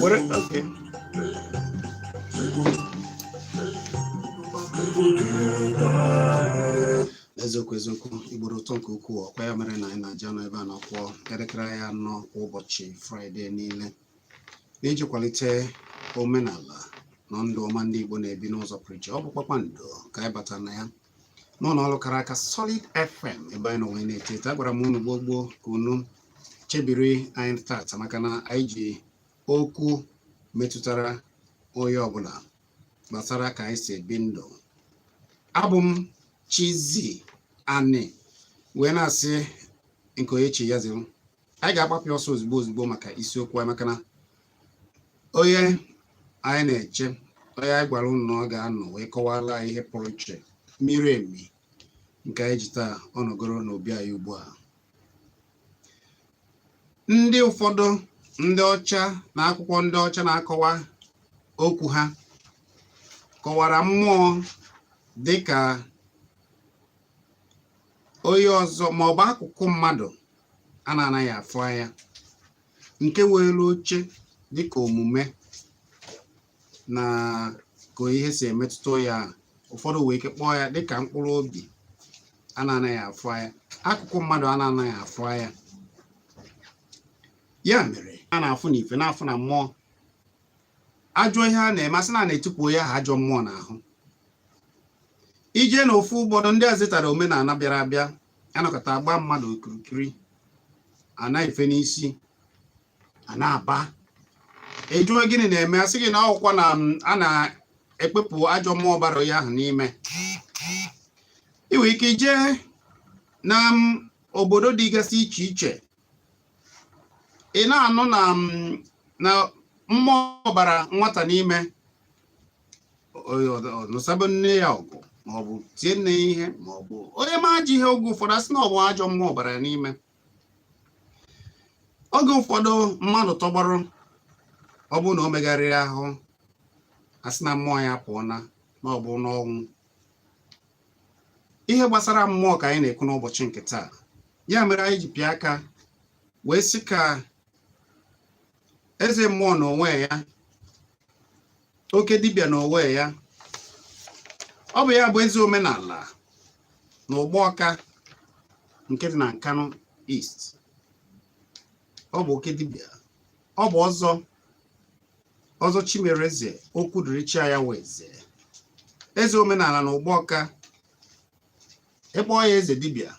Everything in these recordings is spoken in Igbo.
were okay. eziokwu eziokwu igbo dị ụtọ nke ukwuu ọkwa ya mere na anyị na-aji anọ ebe a na-akụ elekere anyị anọ kwa ụbọchị fraịde niile n'iji kwalite omenala na ndụ ọma ndị igbo na-ebi n'ụzọ pụrụ iche ọ bụ kpakpando ka anyị bata na ya n'ụlọ ọrụ kara aka Solid FM ebe anyị nọ wee na-eteta agwara m unu gboo gboo ka unu chebiri anyị tata maka na anyị ji okwu metụtara onye ọbụla gbasara ka anyị si ebi ndụ abụ m Chizzy Ani wee na-asị nke onye chi ya ziri anyị ga-agbapụ ọsọ ozugbo ozugbo maka isiokwu anyị maka na onye anyị na-eche onye anyị gwara unu na ọ ga-anọ wee kọwara anyị ihe pụrụ iche miri emi nke anyị ji taa ọ nọgoro n'obi anyị ugbu a ndị ụfọdụ ndị ọcha na akwụkwọ ndị ọcha na-akọwa okwu ha kọwara mmụọ dị ka onye ọzọ ma ọ bụ akụkụ mmadụ a na-anaghị afụ anya nke weere oche dịka omume na ka ihe si emetụta ya ụfọdụ nwee ike kpọọ ya dịka mkpụrụ obi a na-anaghị afụ anya akụkụ mmadụ a na-anaghị afụ anya ya mere a na-afụ n'ife na-afụ na mmụọ ajọ ihe a na-eme a sị na a na-etipụ ya ha ajọ mmụọ n'ahụ i jee n'ofu obodo ndị a zetara omenala bịara abịa a nọkọta agba mmadụ okirikiri a na-efe n'isi a na-aba a jụọ gịnị na-eme a sị gị na ọ bụkwa na um, a na-ekpepụ ajọ mmụọ bara ya ahụ n'ime i nwere ike ije na um, obodo dịgasị iche iche ị na-anụ na mm, na mmụọ bara nwata n'ime nụsaba nne ya ọgụ maọbụ tie nne ya ihe maọbụ onye mee ajọ ihe oge ụfọdụ a sị na ọ bụ ajọ mmụọ bara ya n'ime oge ụfọdụ mmadụ tọgbọrọ ọ bụrụ na o megharịghị ahụ a sị na mmụọ ya apụọna na ọ bụ n'ọnwụ ihe gbasara mmụọ ka anyị na-ekwu n'ụbọchị nke taa ya mere anyị ji pịa aka wee sị ka eze mmụọ n'onwe ya oke dibịa n'onwe ya ọ bụ ya bụ eze omenala na Ugbawka nke dị na Nkanu East ọ bụ oke dibịa ọ bụ ọzọ ọzọ chimereze okwu dịrị chi ya weze eze omenala na ụgbọ ọka ị kpọọ ya eze dibịa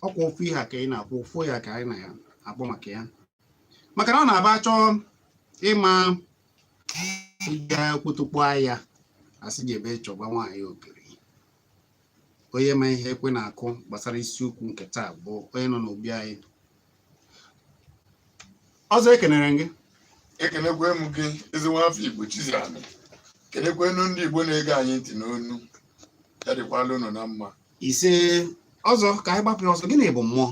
ọkwa ofu ihe ka ị na-akwụ ofu ya ka anyị na-akpọ maka ya maka na ọ na-abụ a chọọ ịma ịga okpotokpo ahịa asị jebe chọba nwaanyị ogiri onye ma ihe ekwe na-akụ gbasara isiokwu nke taa bụ onye nọ n'obi anyị ọzọ ekenere m gị ekenekwa m gị ezi nwa afọ igbo Chizzy Ani kenekwanụ ndị igbo na-ege anyị ntị nnọọnụ ya dịkwala unu na mma ise ọzọ ka anyị gbapụ ya ọsọ gịnị bụ mmụọ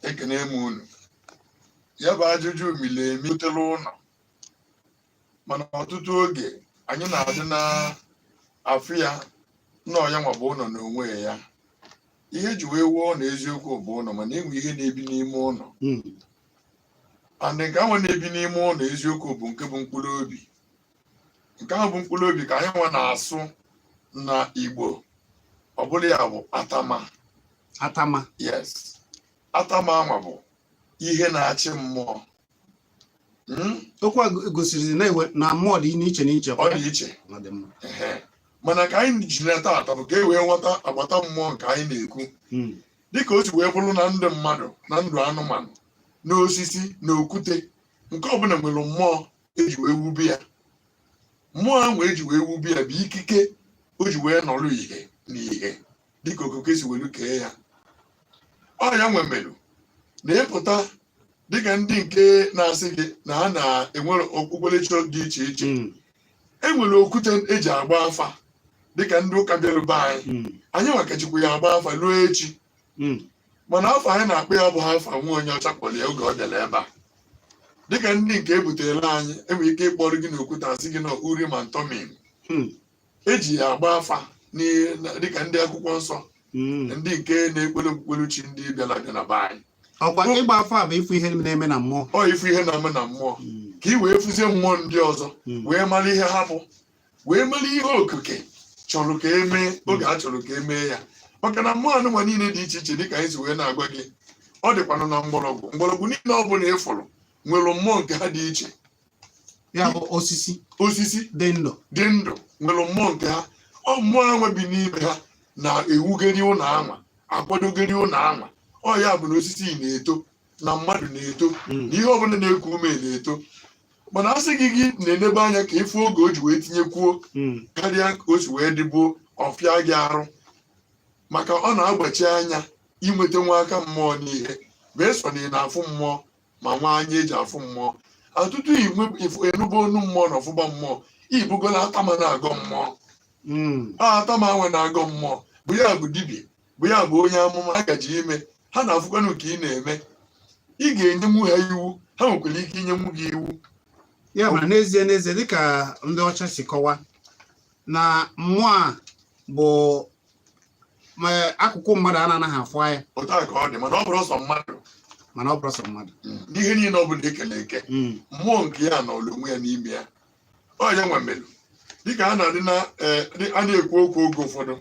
ekene m unu ya bụ ajụjụ miri emi rutela ụlọ mana ọtụtụ oge anyị na-adị na-afụ ya na ọ yanwa bụ ụlọ n'onwe ya ihe e ji wee wuo na eziokwu bụ ụlọ mana enwe ihe na-ebi n'ime ụlọ hmm. and nke ahụ na-ebi n'ime ụlọ eziokwu bụ nke bụ mkpụrụ obi nke ahụ bụ mkpụrụ obi ka anyị nwa na-asụ na Igbo ọ bụla ya bụ atama atama yes atama anwa bụ ihe na-achị mmụọ hmm? okwu a gosiri na mmụọ dị n'iche n'iche ọ dị iche mana ka anyị ji na taata bụ ka e wee ghọta agbata mmụọ nke anyị na-ekwu hmm. dịka o si wee bụrụ na ndụ mmadụ na ndụ anụmanụ na osisi na okwute nke ọbụla nwere mmụọ eji wee wube ya mmụọ ahụ eji wee wube ya bụ ikike o ji wee nọrọ ihe na ihe dịka okike si welu kee ya ọ yanwa melu na ịpụta dịka ndị nke na-asị gị na ha na-enwere okpukperechi dị iche iche Mm, e nwere okwute eji agba afa dịka ndị ụka bịara be anyị mm, anyị nwa ka jikwa ya agba afa ruo echi mm, mana afa anyị na-akpọ ya abụhọ afa nwa onye ọcha kpọrọ ya oge ọ bịara ebe a dịka ndị nke ebutere anyị enwere ike ịkpọrọ gị n'okwute asị gị na Urim and Thummim mm. eji ya agba afa n'ihe na- dịka ndị akwụkwọ nsọ Mm. ndị nke na-ekpere okpukpere chi ndị bịara abịa na be anyị ọkwa ịgba afa bụ ịfụ ihe na-eme na mmụọ ọ ịfụ ihe na-eme na mmụọ Mm. ka ị wee fụzie mmụọ ndị ọzọ Mm. wee mara ihe ha bụ wee mara ihe okike chọrọ ka emee oge a chọrọ ka emee ya maka na mmụọ anụmanụ niile dị iche iche dịka anyị si wee na-agwa gị ọ dịkwanụ na mgbọrọgwụ mgbọrọgwụ niile ọ bụla ị fụrụ nwere mmụọ nke ha dị iche ya bụ osisi osisi dị ndụ dị ndụ nwere mmụọ nke ha ọ mmụọ anwa bi n'ime ha na-ewugeri ụlọ anwa akwadogeri ụlọ anwa ọ ya bụ na osisi na-eto na mmadụ na-eto hmm. na ihe ọbụla na-eku ume na-eto mana a sị gị gị na-enebe anya ka ị fụ oge o ji wee tinyekwuo hmm. karịa ka o si wee dịbu ọ fịa gị arụ maka ọ na-agbachi anya inweta nwa aka mmụọ n'ihe ma eso na ị na-afụ mmụọ ma nwa anya eji afụ mmụọ atụtụ inwe ifo- ịnụbe onu mmụọ na-afụba mmụọ ịbụgola atama na-agọ mmụọ Mm. a atama anwa na-agọ mmụọ bụ ya bụ dibịa bụ ya bụ onye amụma a gaji ime ha na-afụkwanụ ka ị na-eme ị ga-enyenwu ha iwu ha nwekwara ike inyenwu gị iwu ya ma n'ezie n'ezie dịka ndị ọcha si kọwa na mmụọ a bụ akụkụ mmadụ a na-anaghị afụ anya otu a ka ọ dị mana ọ bụrọ sọ mmadụ mana ọ bụrọ sọ mmadụ n'ihe niile ọ bụla ekele eke Mm, mmụọ nke ya nọlụ onwe ya n'ime ya ọ ya anwa melu dịka a na-adị na eh, dị- a na-ekwu okwu oge ụfọdụ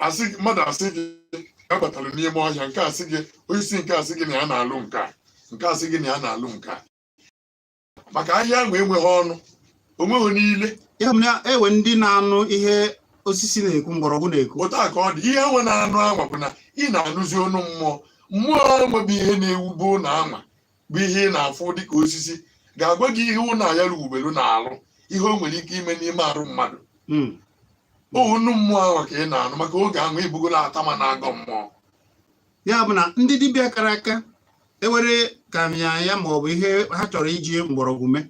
asị gị- mmadụ asị gị gabatara n'ime ọhịa nke asị gị osisi nke asị gị na ya na-alụ nke a nke asị gị na ya na-alụ nke a maka ahịhịa anwa enweghị ọnụ onweghị ile ya mere enwe ndị na-anụ ihe osisi na-ekwu mgbọrọgwụ na-ekwu otu a ka ọ dị ihe anwa ị na-anụ anwa bụ na ị na-anụzi onu mmụọ mmụọ anwa bụ ihe na-ewube ụnọ anwa bụ ihe ị na-afụ dịka osisi ga-agwa gị ihe ụnọ ya o wubelu na-alụ ihe o nwere ike ime n'ime arụ mmadụ hmm. onu mmụọ anwa ka ị na-anụ maka oge anwa ịbụgola atama na-agọ mmụọ ya bụ na ndị dibịa kara aka enwere ka mya ya ma ọ bụ ihe ha chọrọ iji mgbọrọgwụ mee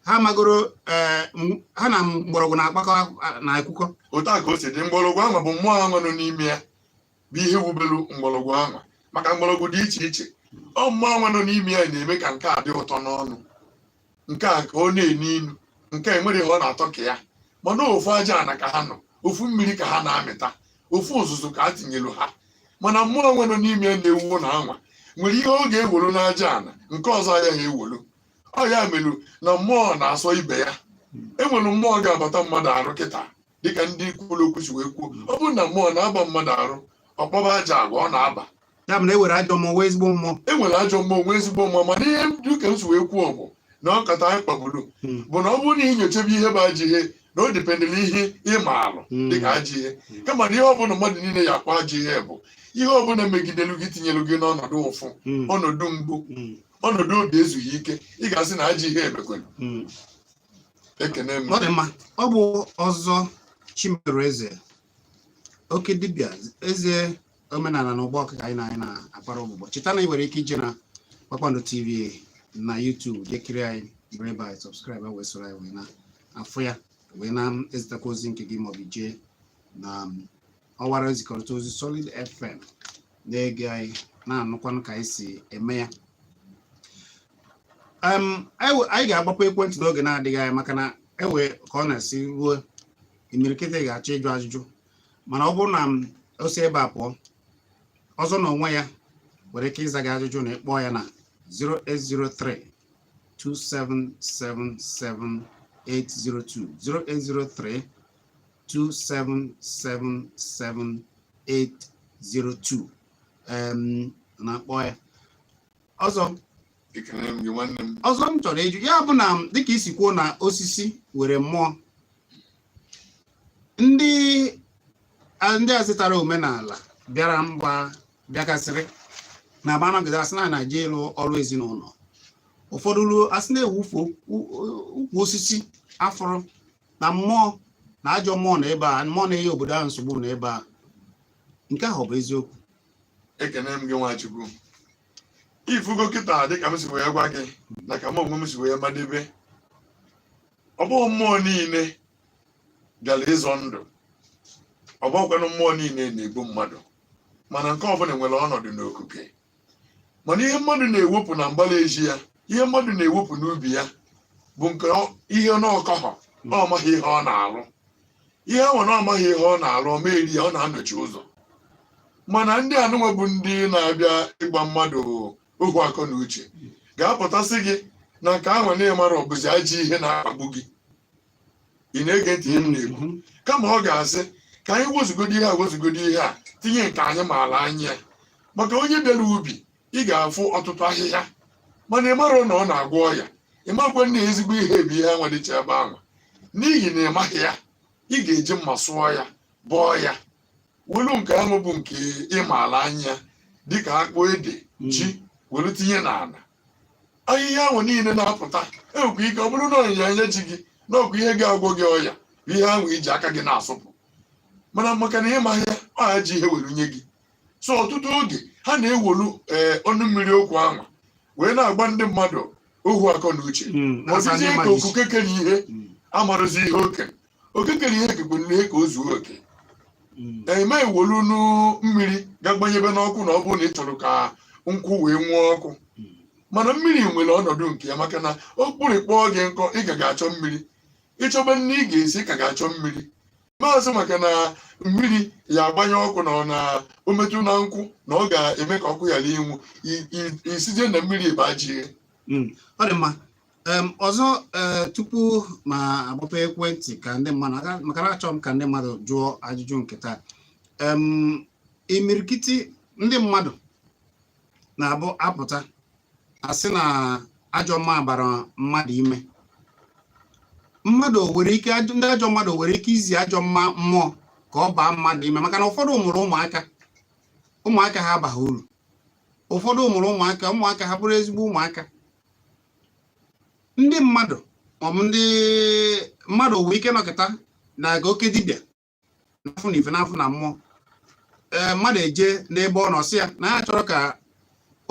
ha magoro eh, ha na mgbọrọgwụ na-akpakọ na akwụkwọ otu a ka o si dị mgbọrọgwụ anwa bụ mmụọ anwa nọ n'ime ya bụ ihe wubelu mgbọrọgwụ anwa maka mgbọrọgwụ dị iche iche ọ mmụọ anwa nọ n'ime ya na-eme ka nke a dị ụtọ n'ọnụ nke a ka ọ na-enu inu nke a enwere ihe ọ na-atọ ka ya mana ofu aja ana ka ha nọ ofu mmiri ka ha na-amịta ofu ụzụzụ ka a tinyelu ha mana mmụọ anwa nọ n'ime ya na-ewu ụnọ anwa nwere ihe ọ ga-ewolu n'aja ana nke ọzọ agaghị ewolu ọ ya melu na mmụọ na-asọ ibe ya enwere mmụọ ga-abata mmadụ arụ kịta dịka ndị kwuru okwu si wee kwuo ọ bụrụ na mmụọ na-aba mmadụ arụ ọkpọba aja agwa ọ na-aba ya bụ na e nwere ajọ mmụọ nwee ezigbo mmụọ e nwere ajọ mmụọ nwee ezigbo mmụọ mana ihe dịka m si wee kwuo bụ na nkata anyị kpaburu hmm. bụ na ọ bụrụ na ị nyochebe ihe bụ ajọ ihe na ọ dependịrị ihe ị maalụ hmm. dịka ajọ ihe hmm. kama na ihe ọbụla mmadụ niile ya-akpọ ajọ ihe bụ ihe ọbụla megidelu gị tinyelu gị n'ọnọdụ ụfụ ọnọdụ mgbu ọnọdụ obi ezughị ike ị ga-asị na ajọ ihe emekwere ọ dị mma ọ bụ ọzọ Chimereze oke dibịa eze omenana na Igboukwu ka anyị na anyị na-akpara ụbụbọ cheta na ị nwere ike ije na Kpakpando TV na YouTube jee kiri anyị bụrụ ebe anyị subscribe wee soro anyị wee na-afụ ya wee na-ezitakwa ozi nke gị maọbụ jee na ọwara nzikọrịta ozi Solid FM na-ege anyị na-anụkwanụ ka anyị si eme ya Em, anyị we- anyị ga-agbapụ ekwentị n'oge na-adịghị anya maka na ewe ka ọ na-esi ruo imirikiti ga-achọ ịjụ ajụjụ mana ọ bụrụ na m o si ebe a pụọ ọzọ na onwe ya nwere ike ịza gị ajụjụ na ịkpọọ ya na 0803 2777802 0803 2777802 em, na-akpọ ya ọzọ Ekele m gị nwanne m. ọzọ m chọrọ ịjụ ya bụ na dịka isi kwuo na osisi nwere mmụọ ndị a- ndị a zụtara omenala bịara mgbe ha bịagasịrị na a bịa nọgide asị na na-eje ịlụ ọrụ ezinụlọ ụfọdụ ruo asị na-ewufu ukwu osisi afọrọ na mmụọ na ajọ mmụọ na ebe a mmụọ na-enye obodo ahụ nsogbu na ebe a nke ahụ ọ bụ eziokwu ekene m gị Nwachukwu ifugo kịta dịka m si wee gwa gị na ka m onwe m si wee madebe ọ bụghị mmụọ niile gara ịzọ ndụ ọ bụghịkwanụ mmụọ niile na-egbu mmadụ mana nke ọbụla nwere ọnọdụ n'okuke mana ihe mmadụ na-ewepụ na mgbala ezi ya ihe mmadụ na-ewepụ n'ubi ya bụ nke ọ- ihe na ọ kọhọ na ọ maghị ihe ọ na-alụ ihe ahụ na ọ maghị ihe ọ na-alụ ọ ma eri ya ọ na-anọchi ụzọ mana ndị anụnwa bụ ndị na-abịa ịgba mmadụ ohu akọ na uche ga-apụta sị gị na nke ahụ na ị marọ bụzi ajọ ihe na-akpagbu gị ị na-ege ntị ihe m na-ekwu kama ọ ga-asị ka anyị wezugodi ihe a wezugodi ihe a tinye nke anyị maala anya ya maka onye bịara ubi ị ga-afụ ọtụtụ ahịhịa mana ị mara na ọ na-agwọ ọya ị makwa na ezigbo ihe bụ ihe anwa dịcha ebe ahụ n'ihi na ị maghị ya ị ga-eji mma sụọ ya bọọ ya welu nke ahụ bụ nke ịmaala anya dịka akpụ ede hmm. ji welu tinye n'ala ahịhịa ahụ niile na-apụta enwekwa ike ọ bụrụ na ọnyịnya anya ji gị na ọkwa ihe ga-agwọ gị ọya ihe ahụ iji aka gị na-asụpụ mana maka na ịmaghị ya ọ ajọ ihe were nye gị so ọtụtụ oge ha na-ewolu eh, ọnụ mmiri okwu anwa wee na-agba ndị mmadụ ohu akọ na uche hmm, asịzie ka okuke kere ihe hmm. amarọzi ihe oke oke kere ihe kekwara ihe ka o zuo oke mm. ị ma ewolu nụ mmiri ga gbanyebe n'ọkụ na ọ bụrụ na ị chọrọ ka nkwụ wee nwuo ọkụ mm. mana mmiri nwere ọnọdụ nke ya maka na akpịrị kpọọ gị nkụ ị ka ga-achọ mmiri ịchọba nni ị ga-esi ị ka ga-achọ mmiri ma asị maka na mmiri ya agbanyụ ọkụ na ọ na o metụ na nkwụ na ọ ga-eme ka ọkụ ghara inwu ị sịzie na mmiri bụ ajọ ihe mm. ọ dị mma ọzọ eh, tupu m agbape ekwentị ka ndị mmadụ maka na achọrọ m ka ndị mmadụ jụọ ajụjụ nke taa imirikiti ndị mmadụ na-abụ apụta asị na ajọ mma bara mmadụ ime mmadụ nwere ike ndị ajọ mmadụ nwere ike izi ajọ mma mmụọ ka ọ baa mmadụ ime maka na ụfọdụ mụrụ ụmụaka ụmụaka ha abaghị uru ụfọdụ mụrụ ụmụaka ụmụaka ha bụrụ ezigbo ụmụaka ndị mmadụ maọbụ ndị mmadụ nwere ike nọ kịta na-aga oke dibịa na-afụ n'ife na-afụ na mmụọ ee mmadụ eje n'ebe ọ nọ sị ya na ya chọrọ ka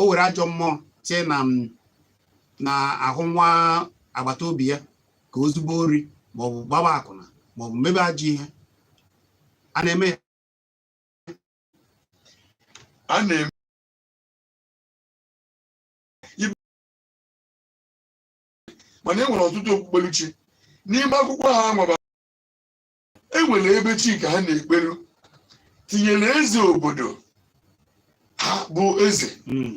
o were ajọ mmụọ tie na na ahụ nwa agbata obi ya ka o zube ori maọbụ gbaba akwụna maọbụ mebe ajọ ihe a na-eme ya a na-eme mana e nwere ọtụtụ okpukperechi n'ime akwụkwọ ha nwaba e nwere ebe chi nke ha na-ekperu tinyere eze obodo ha bụ eze hmm.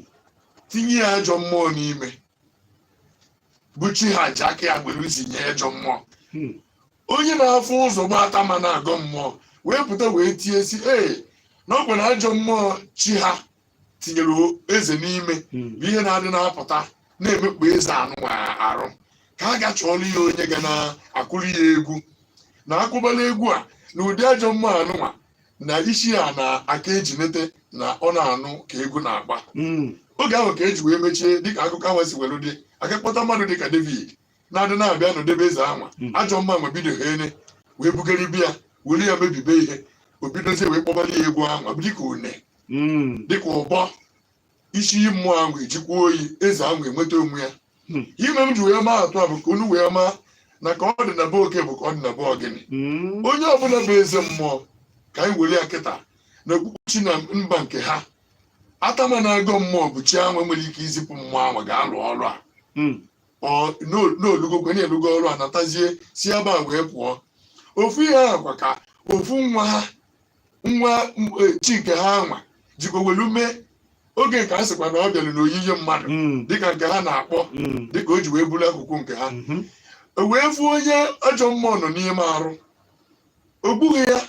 tinye ya ajọ mmụọ n'ime bụ chi ha ji aka ya gbere zinye ajọ mmụọ hmm. onye na-afụ ụzọ bụ atama na-agọ mmụọ wee pụta wee tie sị ee na ọ bụ na ajọ mmụọ chi ha tinyere eze n'ime hmm. bụ ihe na-adị na-apụta na-emekpa eze anụnwa arụ ka a ga chọọla ya onye ga na-akụrụ ya egwu na akụbala egwu a na ụdị ajọ mma anụnwa na isi ya na-aka ejinete na ọ na-anụ ka egwu na-agba hmm. oge ahụ ka e ji wee mechie dịka akụkọ ahụ si were dị aga kpọta mmadụ dịka David na-adị na-abịa anọdebe eze anwa hmm. ajọ mma anwa bido ha ene wee bugharịba ya were ya mebibe ihe o bidozie wee kpọbala ya egwu anwa dịka une hmm. dịka ụbọ isi iyi mmụọ ahụ ejikwa oyi eze ahụ enweta onwe ya hmm. ihe m ji wee maa atụ a bụ ka unu wee maa na ka ọ dị na be oke bụ ka ọ dị na be ogini hmm. onye ọbụla bụ eze mmụọ ka anyị were ya kịta na okpukpechi na mba nke ha atama na-agọ mmụọ bụ chi anwa nwere ike izipụ mmụọ ahụ ga-alụ ọrụ a hmm. n'olugokwe na-elugo ọrụ a natazie si ebe a wee pụọ ofu ihe ahụ kwa ka ofu nwa ha nwa chi nke ha anwa jikwa welu mee oge nke a sịkwa na ọ bịara n'oyiyi mmadụ mm. dịka nke ha na-akpọ mm. dịka o ji wee buru akụkọ nke ha mm-hmm. o wee fụ onye ajọ mmụọ nọ n'ime arụ o gbughị ya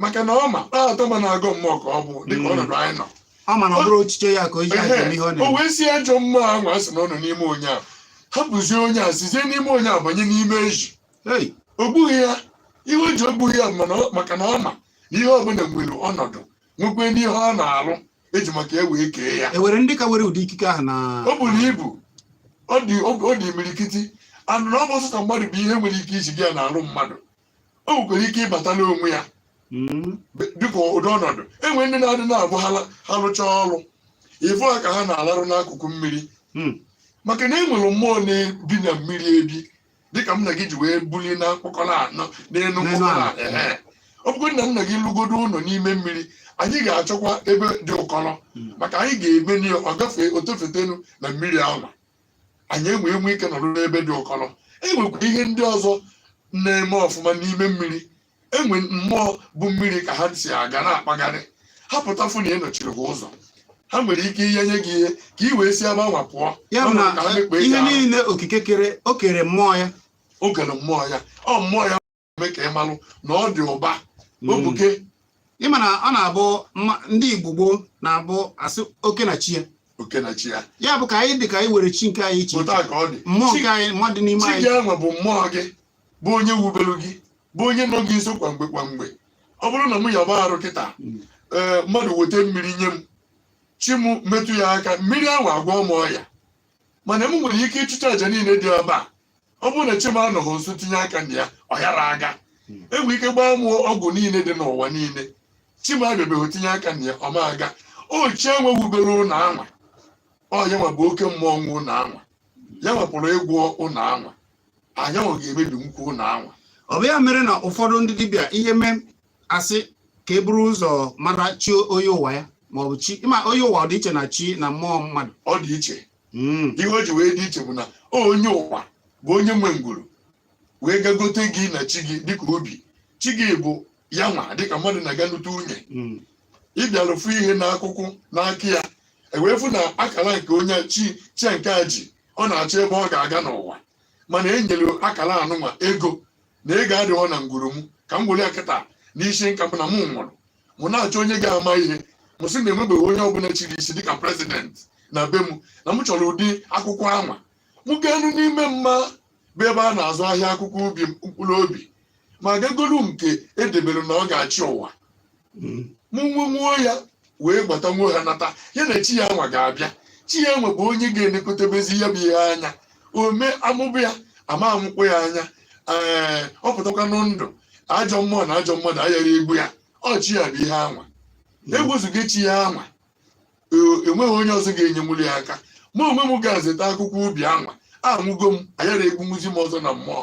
maka na ọ ma na atama na-agọ mmụọ ka ọ bụ dịka mm. ọnọdụ anyị nọ ọ ma na ọ bụrọ echiche ya ka o ji aga ihe ọ na-eme o wee sị ajọ mmụọ ahụ a sị na ọ nọ n'ime onye a hapụzie onye a sizie n'ime onye a banye n'ime ezi o gbughị ya ihe o ji o gbughị ya maka na ọ ma na ihe ọbụla nwere ọnọdụ nwekwee ihe ọ na-alụ e ji maka ya wee kee ya e nwere ndị ka nwere ụdị ikike ahụ na o buru ibu ọ dị imirikiti anụ na ọ bụ sụta mmadụ bụ ihe nwere ike iji bịa n'arụ mmadụ o nwekwara ike ịbata n'onwe ya hmm. dịka ụdị ọnọdụ e nwere ndị na-adị na-abụ ha lụchaa ọrụ ị fụ ha ka ha na-alarụ n'akụkụ mmiri hmm. maka na e nwere mmụọ na-ebi na mmiri ebi dịka m na gị ji wee buli na mkpọkọ ana na- n'elu mkpọkọ ana ehe. ọ bụgodị na nna gị lụgodo ụlọ n'ime mmiri anyị ga-achọkwa ebe dị ụkọrọ Mm. maka anyị ga-eme n'ihe ọ gafee o tofetenu na mmiri ahụ anyị enwe enwe ike nọrọ n'ebe dị ụkọrọ e nwekwara ihe ndị ọzọ na-eme ọfụma n'ime mmiri e nwere mmụọ bu mmiri ka ha si aga na-akpagharị ha pụtafụ na ị nọchiri ha ụzọ ha nwere ike inye gị ihe ka ị wee si ebe anwa pụọ ya bụ na ihe niile okike kere o kere mmụọ ya o kere mmụọ ya ọ mmụọ ya mee ka ị malụ na ọ dị ụba hmm. obuke ị ma na ọ na-abụ ndị Igbo gboo na-abụ a sị oke na chi ya oke na chi ya ya bụ ka anyị dị ka anyị nwere chi nke anyị iche mmụọ nke anyị mmadụ n'ime anyị chi gị ahụ bụ mmụọ gị bụ onye wubelu gị bụ onye nọ gị nso kwa mgbe kwa mgbe ọ bụrụ na mụ yaba arụ kịta ee eh, mmadụ weta mmiri nye m chi m metụ ya aka mmiri ahụ agwọ m ọya mana m nwere ike ịchụcha aja niile dị ebe a ọ bụrụ na chi m anọghị nso tinye aka na ya ọ yara aga hmm. e nwere ike gbaa mụ ọgwụ niile dị n'ụwa niile chi m abịabeghị tinye aka na ya ọ ma aga ọ chi anwa wubere ụlọ anwa ọ ya nwa bụ oke mmụọ nwe ụlọ anwa ya nwa pụrụ ịgwọ ụlọ anwa ya nwa ga-emebikwu ụlọ anwa ọ bụ ya mere na ụfọdụ ndị dibịa ihe mee a sị ka e buru ụzọ mara chi onye ụwa ya ma ọ bụ chi ma onye ụwa ọ dị iche na chi na mmụọ mmadụ ọ dị iche hmm. ihe o ji wee dị iche bụ na onye ụwa bụ onye nwe ngwuru wee gagote gị na chi gị dịka obi chi gị bụ ya nwa dịka mmadụ na-aga nụte nwunye hmm. ị bịara fụ ihe n'akwụkwọ n'aka ya e wee fụ na akara nke onye chi chi nke a ji ọ na-achọ ebe ọ ga-aga n'ụwa mana e nyere akara anụnwa ego na ego adịghọ na ngwuru m ka m were ya kịta n'isi nka m na m nwụrụ mụ na-achọ onye ga-ama ihe m sị na e nwebeghị onye ọbụla chiri isi dịka prezidenti na be m na m chọrọ ụdị akwụkwọ anwa m gaanụ n'ime mma bụ ebe a na-azụ ahịa akwụkwọ ubi mkpụrụ obi m aga golu nke e debere na ọ ga-achị ụwa mm. mụ wee nwuo ya wee gbata nwo ha nata ya na chi ya nwa ga-abịa chi ya nwa bụ onye ga-elekọtabezi ya bụ ihe anya o mee a mụba ya a ma amụkpọ ya anya ee ọ pụtakwanụ ndụ ajọ mmụọ na ajọ mmadụ ayara egbu ya ọ chi ya bụ ihe anwa egbuzugo chi ya anwa enweghị onye ọzọ ga-enyenwuli ya aka ma onwe m ga-azụta akwụkwọ ubi anwa anwụgo m a yara egbunwuzi m ọzọ na mmụọ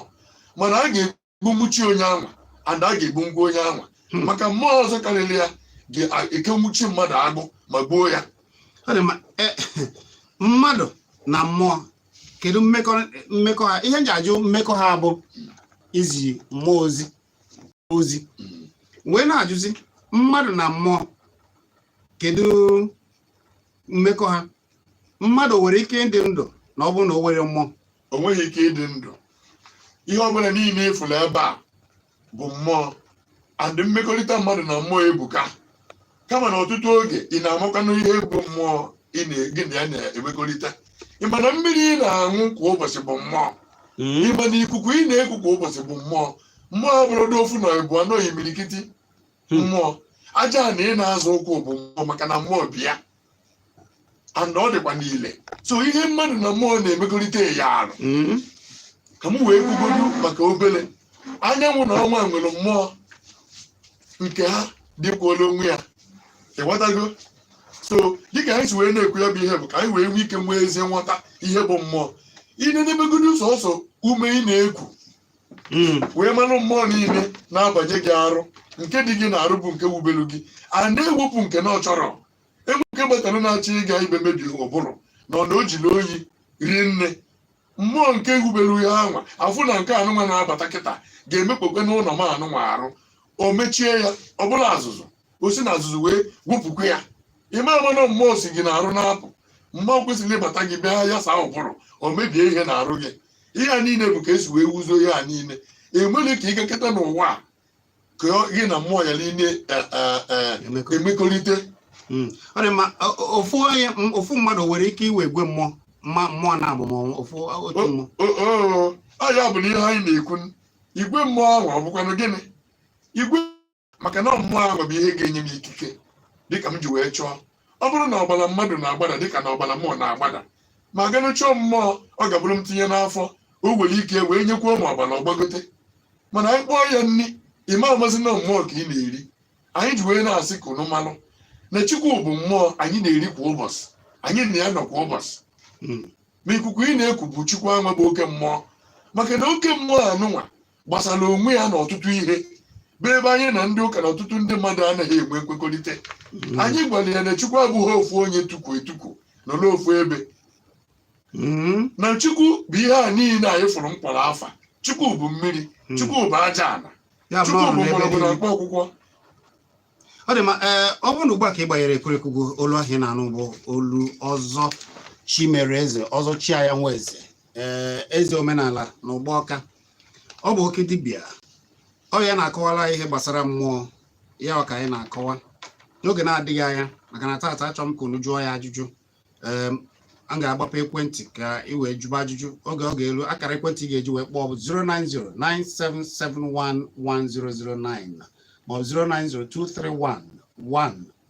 mana a ga-egbunwuchi onye anwa and a ga-egbungwu onye anwa hmm. maka mmụọ ọzọ karịrị ya ga-ekenwuchi mmadụ agbụ ma gbuo ya e, mmadụ na mmụọ kedu mmekọ ha ihe m ji ajụ mmekọ ha bụ izi mmụọ ozi wee na-ajụzi mmadụ na mmụọ kedu mmekọ ha mmadụ nwere ike ịdị ndụ na ọ bụrụ na o nwerọ mmụọ o nweghị ike ịdị ndụ ihe ọbụla niile ị fụla ebe a bụ mmụọ and mmekọrịta mmadụ na mmụọ ebuka kama na ọtụtụ oge ị na-amakwanụ ihe bụ mmụọ gị na ya na-emekọrịta ị ma na mmiri ị na-aṅụ kwa ụbọchị bụ mmụọ mm. ị ma na ikuku ị na-eku kwa ụbọchị bụ mmụọ mmụọ abụrọdị ofu na ebu anọ imirikiti hmm. mmụọ aja ana ị na-azọ ụkwụ bụ mmụọ maka na mmụọ bi ya and ọ dịkwanụ ile so ihe mmadụ na mmụọ na-emekọrịta ya arụ mm-hmm. ka m wee kwugodu maka obere anyanwụ na ọnwa nwere mmụọ nke ha dịkwuola onwe ya ịghọtago so dịka anyị si wee na-ekwu ya bụ ihe bụ ka anyị wee nwee ike nwee ezi nghọta ihe bụ mmụọ i nenegodu sọsọ ume ị na-eku mm. wee mara mmụọ niile na-abanye gị arụ nke dị gị n'arụ bụ nke wubelu gị a na-ewepụ nke na ọ chọrọ e nwee nke gbatara na-achọ ịga ibe mebi ụbụrụ na ọ na o jiri oyi rie nne mmụọ nke e wubere ya anwa afụ na nke anụnwa na-abata kịta ga-emekpọkwanụ ụlọ m anụnwa arụ o mechie ya ọ bụlụ azụzụ o si na azụzụ wee wepụkwa ya ị ma-ama na mmụọ si gị n'arụ na-apụ mmụọ kwesịrị ịbata gị bịa ya saa ụbụrụ o mebie ihe n'arụ gị ihe a niile bụ ka e si wee wuzuo ihe a niile enweghị ka ị gakọta n'ụwa a ka ọ- gị na mmụọ yala ịna eh, eh, eh, Emekọ. emekọrịta Mm. ọ dị mma o- o- ofu onye m- ofu mmadụ nwere ike inwe igwe mmụọ mma mmụọ na-abụ nnọọ ofu otu mmụọ oo ọ ya bụ na ihe anyị na-ekwu igwe mmụọ ahụ ọ bụkwanụ gịnị igwe maka na mmụọ ahụ bụ ihe ga-enye m ikike dịka m ji wee chọọ ọ bụrụ na ọbara mmadụ na-agbada dịka na ọbara mụ na-agbada m aganụ chọọ mmụọ ọ ga-abụrụ m tinye n'afọ o nwere ike wee nyekwuo m ọbara ọ gbagote mana anyị kpọọ ya nri ị ma-amazi na mmụọ ka ị na-eri anyị ji wee na-asị ka unu malụ na chukwu bụ mmụọ anyị na-eri kwa ụbọchị anyị na ya nọ kwa ụbọchị ma ikuku ị na-eku bụ chukwu anwa bụ oke mmụọ maka na oke mmụọ anụnwa gbasara onwe ya na ọtụtụ ihe bụ ebe anyị na ndị ụka na ọtụtụ ndị mmadụ anaghị enwe nkwekọrịta Mm. anyị gwara ya na chukwu abụghị ofu onye tukwu etukwu nọ n'ofu ebe Mm. na chukwu bụ ihe a niile anyị fụrụ m kpọrọ afa chukwu bụ mmiri chukwu bụ aja ala ya chukwu bụrụ bụ n'ebe mgbọrọgwụ na niile. mkpa akwụkwọ ọ dị ma ee eh, ọ bụrụ na ugbu a ka ị gbanyere ekwurekwu gị olu ahụ ị na-anụ bụ olu ọzọ chimereze ọzọ chiaya nweze ee eh, eze omenala na ugbọka ọ bụ oke dibịa ọ ya na-akọwara ihe gbasara mmụọ ya ka anyị na-akọwa n'oge na-adịghị anya maka na taata achọ m ka unu jụọ ya ajụjụ em, a ga-agbapụ ekwentị ka ị wee jụba ajụjụ oge ọ ga-eru akara ekwentị ị ga-eji wee kpọọ bụ 09097711009 maọbụ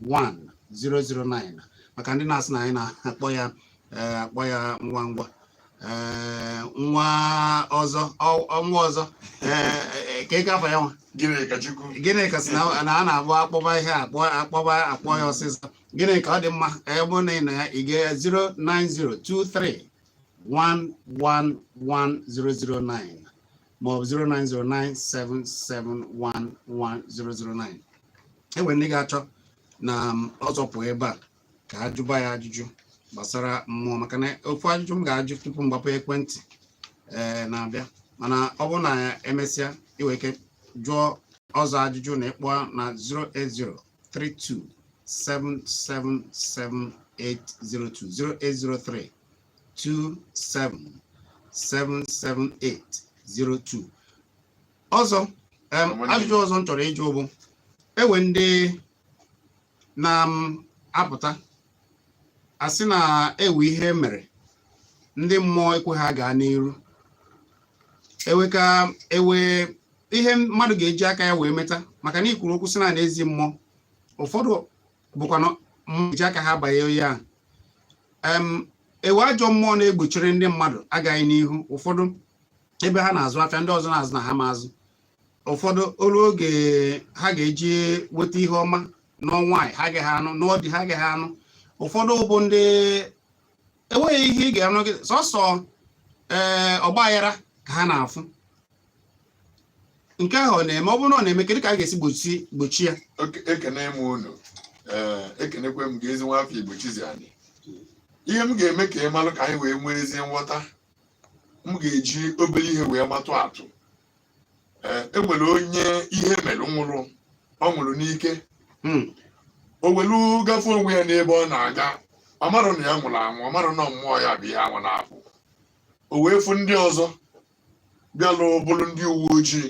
09023111009 maka ndị na-asị na anyị na-akpọ ya eh, akpọ ya ngwa ngwa ee, nwa ọzọ ọ- ọ- nwa ọzọ ee, ee, ka afa ya nwa gịnịkachukwu gịnịka sị na na a na-abụ akpọba ihe a, akpọ akpọba akpọ ya ọsịsọ gịnịka ọ dị mma ka ebe na ị na ya ị ga 09023111009 maọbụ 09097711009 enwere ndị ga-achọ na ọzọ pụọ ebe a ka a jụba ya ajụjụ gbasara mmụọ maka na ofu ajụjụ m ga-ajụ tupu m gbapụ ekwentị ee na-abịa mana ọ bụrụ na emesịa i we ike jụọ ọzọ ajụjụ na ịkpọ na 08032777802 08032777802 ọzọ em, ajụjụ ọzọ m chọrọ ịjụ bụ enwe ndị na-apụta um, asị na ewe ihe mere ndị mmụọ ekwe ha gaa n'iru ewe ka ewe ihe mmadụ ga-eji aka ya wee meta maka na i kwuru okwu sị na n'ezi mmụọ ụfọdụ bụkwa na eji aka ha banye ya ewe ajọ mmụọ na-egbochiri ndị mmadụ agamnihu ụfọdụ ebe ha na-azụ afịa ndị ọzọ na-azụ na ha ma azụ ụfọdụ o lu oge ha ga-eji weta ihe ọma na ọ nwaanyị ha agaghị anụ na ọ di ha agaghị anụ ụfọdụ bụ ndị enweghị ihe ị ga-anụ gị sọsọ ee eh, ọgbaaghara ka ha na-afụ nke ahụ ọ na-eme ọ bụrụ na ọ na-eme kedụ ka a ga-esi gbochi gbochi ya ekene m unu eh, ekenekwa m gị ezi nwa afọ igbo chizi anyị ihe m ga-eme ka ị malụ ka anyị wee nwee ezi nghọta m ga-eji obere ihe wee matụ atụ e nwere onye ihe mere nwụrụ ọ nwụrụ n'ike hmm. o welu gafe onwe ya n'ebe ọ na-aga ọ marọ na ya nwụrụ anwụ ọ marọ na ọ mmụọ ya bụ ihe ahụ na-apụ o wee fụ ndị ọzọ bịalụ bụrụ ndị uwe ojii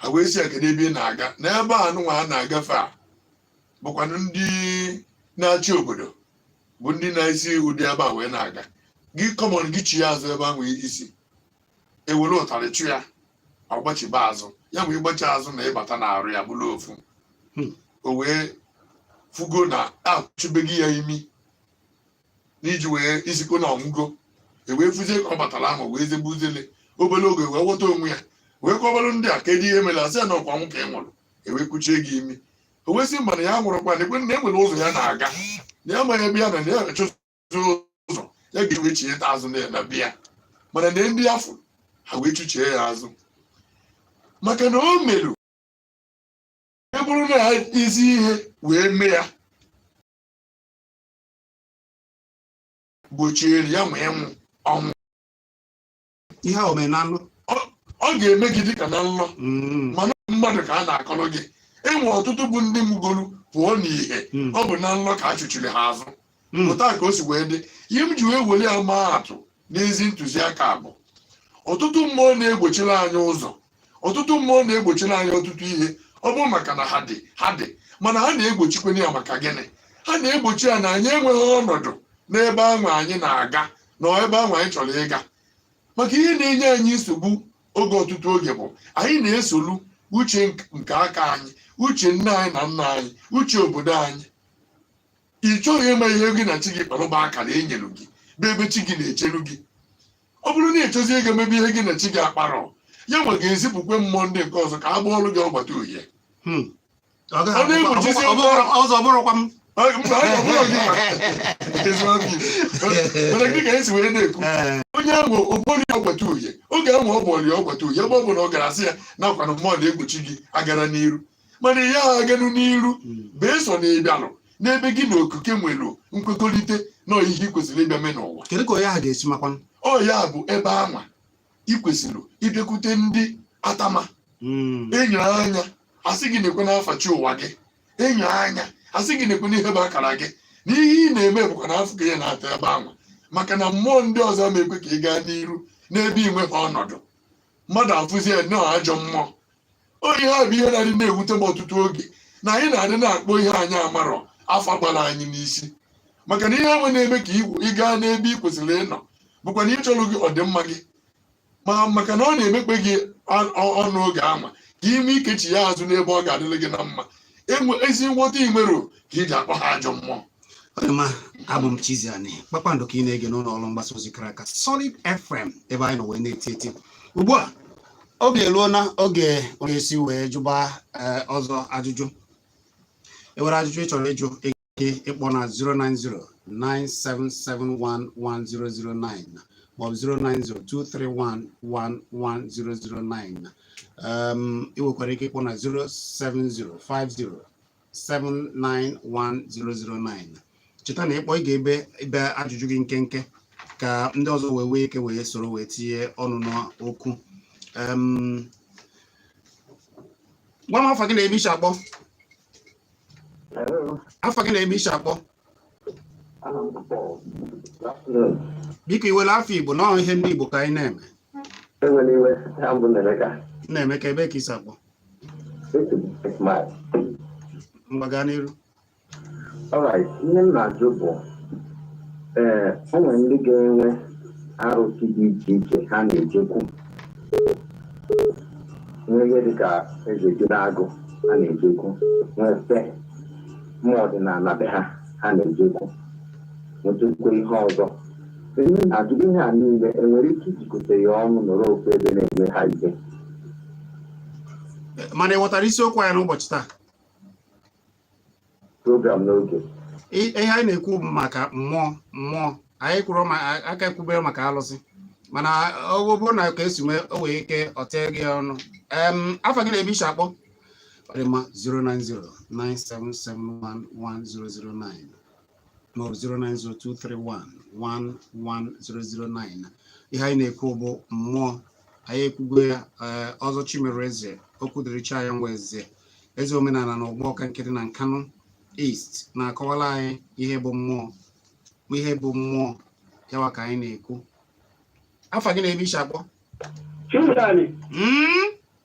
ha wee sị kedụ ebe ị na-aga n'ebe a nụnwa a na-agafe a bụkwanụ ndị na-achị obodo bụ ndị na-esi ụdị ebe a wee na-aga gị kọmọn gị chie azụ ebe ahụ i si ewere ụtarị chụ ya ọ gbachiba azụ ya nwa ịgbachi azụ na ịbata n'arụ ya bụrụ ofu hmm. o wee fugo na achụbeghị ya imi n'iji wee isikọ na ọ nwụgo ewee fuzie ka ọ batara ahụ wee zebe uzele obere oge wee ghọta onwe ya wee kọbalụ ndị a kedu ihe mere asị na ọkwa ọnwụ ka ị nwụrụ ewee kuchie gị imi o wee sị mba na ya nwụrụkwa nekwe na enwere ụzọ ya na-aga na ya amaghị ebe ya na ya achọzi ụzọ ya ga ewe chieta azụ na ya bịa mana na ndị afụ ha wee chụchie ya azụ maka na o merụ e bụrụ na ha ezi ihe wee mee ya gbochiere ya nwa ịnwụ ọnwụ ihe a o mere na nlọ ọ ga-eme gị dịka na nlọ mm. mana mmadụ ka a na-akọrọ gị enwe ọtụtụ bụ ndị nwụgolu pụọ n'ihe mm. ọ bụ na nlọ ka a chụchiri ha azụ mm. pụta ka o si wee dị ihe m ji wee were ya maa atụ n'ezi ntụziaka bụ ọtụtụ mmụọ na-egbochiri anyị ụzọ ọtụtụ mmụọ na-egbochiri anyị ọtụtụ ihe ọ bụ maka na ha dị ha dị mana ha na-egbochikwanụ ya maka gịnị ha na-egbochi ya na anyị enweghị ọnọdụ n'ebe ahụ anyị na-aga na ebe ahụ anyị chọrọ ịga maka ihe na-enye anyị nsogbu oge ọtụtụ oge bụ anyị na-esolu uche nke aka anyị uche nne anyị na nna anyị uche obodo anyị ị chọghị ịma ihe gị na chi gị kpara bụ akara e nyere gị bụ ebe chi gị na-echelu gị ọ bụrụ na ị chọzie ịga emebe ihe gị na chi gị akparọ ya nwe ga-ezipụkwe mmụọ ndị nke ọzọ ka ha bụọrọ gị ọgbata uhie hmm. ọ na-egbochizi ụzọ bụrụkwa m dịka esi wee na-ekwu eh. onye ahụ ọ bụọrọ ya ọgbata uhie oge ahụ ọ bụọrọ ya ọgbata uhie ebe ọbụna ọ gara asị ya nekwanụ mmụọ na-egbochi gị agara n'iru mana ihe ahụ aganụ n'iru beesọ na ị bịalụ n'ebe gị na okike nwere nkwekọrịta na ihe ị kwesịrị ịbịa mee n'ụwa kedu ka onye ahụ ga-esi makwa ọ ya bụ ebe anwa ị kwesịrị ịbịakwute ndị atama enyo anya asị gị nekwe na afa chi ụwa gị enyo anya asị gị nekwe na ihe bụ akara gị na ihe ị na-eme bụkwa na afụfụ ka ị na-ata ebe anwa maka na mmụọ ndị ọzọ ama ekwe ka ị gaa n'iru n'ebe ị nweghị ọnọdụ mmadụ afụzie na ọ ajọ mmụọ ọ ihe a bụ ihe na-adị na-ewute m ọtụtụ oge na anyị na-adị na-akpọ ihe anyị amarọ afa gbara anyị n'isi maka na ihe anwa na-eme ka ị gaa n'ebe ị kwesịrị ịnọ bụkwa na ịchọrọ gị ọdịmma gị ma maka na ọ na-emekpe gị ọnụ oge anwa ka ị nwee ike chia azụ n'ebe ọ ga-adịrị gị na mma enwe ezi nghọta ị nwerọ ka i ji akpọ ha ajọ mmụọ ọdịma abụ m Chiziani kpakpando ka ị na-ege n'ụlọ ọrụ mgbasa ozi kara aka Solid FM ebe anyị nọ wee na-eti eti ugbu a oge eruo na oge onye si wee jụba eh, ọzọ ajụjụ enwere ajụjụ ị chọrọ ịjụ ike ịkpọ na 09097711009 maọbụ 09023111009 um, ị nwekwara ike ịkpọ na 07050791009 cheta na ị kpọọ ị ga-ebe ebe ajụjụ gị nkenke ka ndị ọzọ wee nwee ike wee soro wee tinye ọnụ n'okwu um, gwa m afa gị na ebe i si akpọ afa gị na ebe i si akpọ biko i nwere afa igbo na ọ bụ ihe ndị igbo ka anyị na-eme ewela iwe aha m bụ Nnaemeka Nnaemeka ebee ka i si akpọ ngwa gaa n'iru alright ihe m na-ajụ bụ ee o nwere ndị ga-enwe arụsị dị iche iche ha na-ejekwu nwee ihe dị ka eze ji na-agụ ha na-ejekwu nwee ife mmụọ ọdịnala be ha ha na-ejekwu nwetụkwa ihe ọzọ ihe m na-ajụ bụ ihe a niile enwere ike ijikọta ya ọnụ nọrọ ofu ebe na-eme ha ihe mana ị ghọtara isiokwu anyị n'ụbọchị taa program n'oge ihe anyị na-ekwu maka mmụọ mmụọ anyị kwuru aka ekwubere maka alụsị mana ọ bụrụ na ka esi nwee o nwee ike o tinye gị ọnụ afa gị na ebe i si akpọ ọ dị mma 090 9771109 ma ọ bụ 09023111009 ihe anyị na-ekwu bụ mmụọ anyị ekwugo ya eh, Ọzọ Chimereze okwu dịrị chi anyị nwa eze eze omenala na Ugbawka nke dị na Nkanụ East na-akọwara anyị ihe bụ mmụọ ihe bụ mmụọ yawa ka anyị na-ekwu afa gị na ebe i si akpọ Chimdani, mm?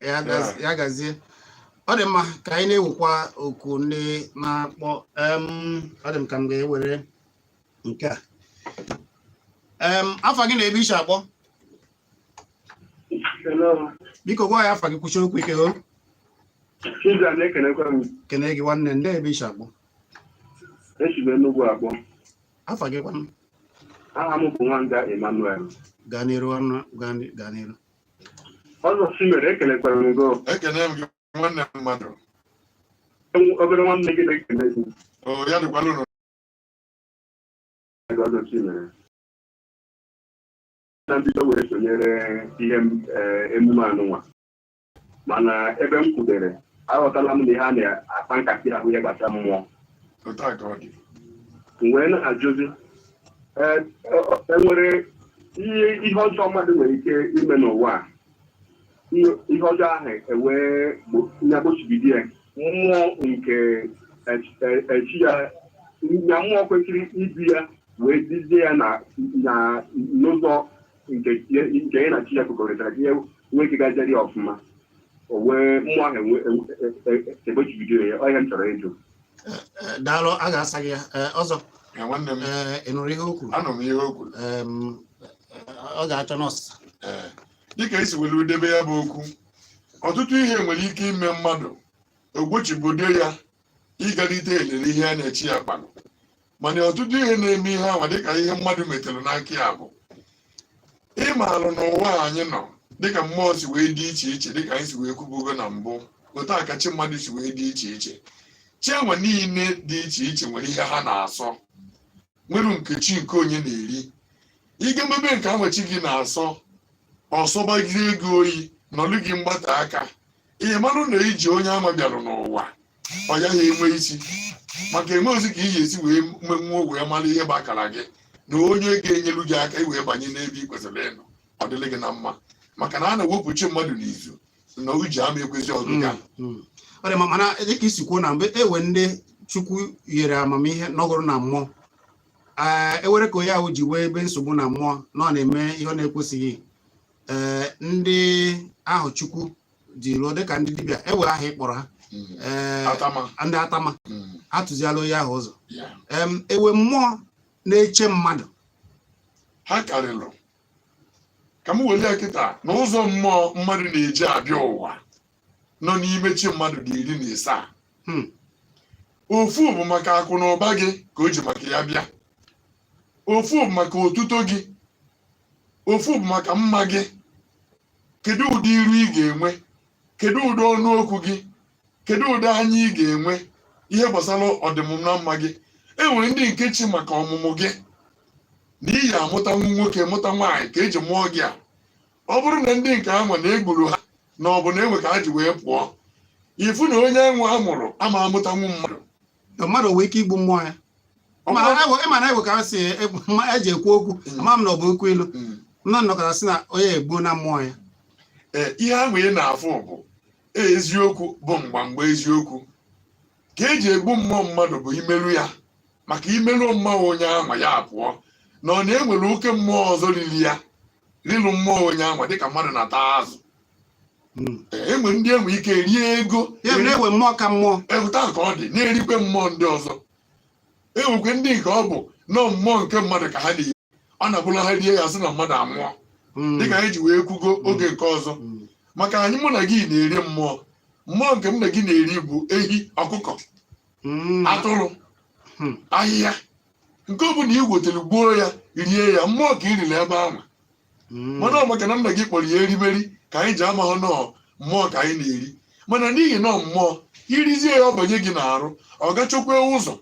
ya gazi- ya gazie ọ dị mma ka anyị na-ewekwa oku ndị na-akpọ em, ọ dị m ka m ga-ewere nke a Em, afa gị na ebe i si akpọ Hello. biko gwa anyị afa gị kwusie okwu ike o Chiza na-ekenekwa m. kene gị nwanne ndị ebe i si akpọ E si m Enugwu akpọ. afa gị kwanụ Aha m bụ Nwanga Emmanuel. gaa n'iru ọnụ gaa n'i- gaa n'iru Ọzọ Chimere ekelekwara m gị ekene m gị nwanne m mmadụ Enwe- obere nwanne gị na-ekele gị o ya dịkwala unu ego Ọzọ Chimere na mbido wee sonyere ihe m- eh, emume anụnwa mana ebe m kwudere aghọtala m na ihe a na-akpa nkata ya bụ ihe gbasara mmụọ otu a ka ọ dị m wee na-ajụzi ee, ọ- enwere ihe ihe ọjọọ mmadụ nwere ike ime n'ụwa a ihe ihe ọjọọ ahụ ewee gbo- ya gbochibido ya mmụọ nke ech- e- echi ya ya mmụọ kwesịrị ịbịa wee duzie ya na na n'ụzọ nke ya- nke ya na chi ya kwekọrịtara ka ihe nwee ike gajere ya ọfụma o wee mmụọ ahụ enwe- e- e- e- egbochibido ya ọ ihe m chọrọ ịjụ daalụ a ga-asa gị ya Ee, ọzọ Ya nwanne m ee, ị nụrụ ihe o kwuru anụ m ihe o kwuru Em, ọ ga-achọ nọọsụ Ee, dịka i si were debe ya bụ okwu ọtụtụ ihe nwere ike ime mmadụ o gbochibido ya ị ga-elite elele ihe ya na chi ya kpalụ mana ọtụtụ ihe na-eme ihe anwa dịka ihe mmadụ metere n'aka ya bụ ime alụ n'ụwa anyị nọ dịka mmụọ si wee dị iche iche dịka anyị si wee kwubugo na mbụ otu a ka chi mmadụ si wee dị iche iche chi anwa niile dị iche iche nwere ihe ha na-asọ nwere nke chi nke onye na-eri ị ga-emebe nke anwa chi gị na-asọ ọ sọbazie gị oyi nọlụ gị mgbata aka ị marụ na ije onye anwa bịara n'ụwa ọ yaghị enwe isi maka enwerozi ka ị ga-esi wee menwuo wee mara ihe bụ akara gị na onye ga-enyelu gị aka ị wee banye n'ebe ị kwesịrị ịnọ ọ dịrị gị na mma maka na a na-ewepụ chi mmadụ n'izu na ije ama ekwezi ọgịga Mm. ọ dị mma mana dịka i si kwuo na mgbe enwe ndị chukwu nyere amamihe nọgụrụ na mmụọ ee enwere ka onye ahụ ji wee nwebe nsogbu na mmụọ na ọ na-eme ihe ọ na-ekwesịghị ee eh, ndị ahụ chukwu ji ruo dịka ndị dibịa enwe aha ị kpọrọ ha hmm. eh, ndị atama hmm. atụziala onye ahụ ụzọ enwe mmụọ na-eche mmadụ ha karịrị ka m were ya kịta na ụzọ mmụọ mmadụ na-eji abịa ụwa nọ n'ime chi mmadụ dị iri na ịsaa hmm. ofu bụ maka akụ na ụba gị ka o ji maka ya bịa ofu bụ maka otuto gị ofu bụ maka mma gị kedu ụdị iru ị ga-enwe kedu ụdị ọnụ okwu gị kedu ụdị anya ị ga-enwe ihe gbasara ọdịmma na mma gị e nwere ndị nke chi maka ọmụmụ gị na ị ya-amụta nwa nwoke mụta nwaanyị ka eji mụọ gị a ọ bụrụ na ndị nke anwa na egburu ha na ọ bụ na enwe ka ha ji wee pụọ ị fụ na onye anwa a mụrụ ama amụtanwu mmadụ na mmadụ nwee ike igbu mmụọ ya Ọ ma bụrụ- na- ịma na enwe ka ha si e- ma eji ekwu okwu Mm. ama m na ọ bụ okwu ilu Mm. na a nọkata sị na onye egbuo na mmụọ ya Ee, ihe anwa ị na-afụ bụ ee, eziokwu bụ mgbamgba eziokwu ka eji egbu mmụọ mmadụ bụ imerụ ya maka imerụ mmụọ onye anwa ya pụọ na ọ na enwere oke mmụọ ọzọ riri ya rilu mmụọ onye anwa dịka mmadụ na-ata azụ hmm. enwe ndị enwe ike rie ego enwe mmụọ ka mmụọ ewuta ka ọ dị na-erikwe mmụọ ndị ọzọ enwekwe ndị nke ọ bụ nọ mmụọ nke mmadụ ka ha na-eri ọ na-abụla ha rie ya sị na mmadụ anwụọ hmm. dịka anyị ji wee kwugo hmm. oge nke ọzọ maka anyị mụ na gị na-eri mmụọ mmụọ nke m na gị na-eri bụ ehi ọkụkọ atụrụ ahịhịa nke ọ bụla i wetara gbuo ya rie ya mmụọ ka i riri ebe ahụ Mm. mana ọ maka na nna gị kpọrọ ya erimeri ka anyị ji amaghọ na ọ mmụọ ka anyị na-eri mana n'ihi na ọ mmụọ i rizie ya ọ banye gị n'arụ ọ ga-achọkwa ụzọ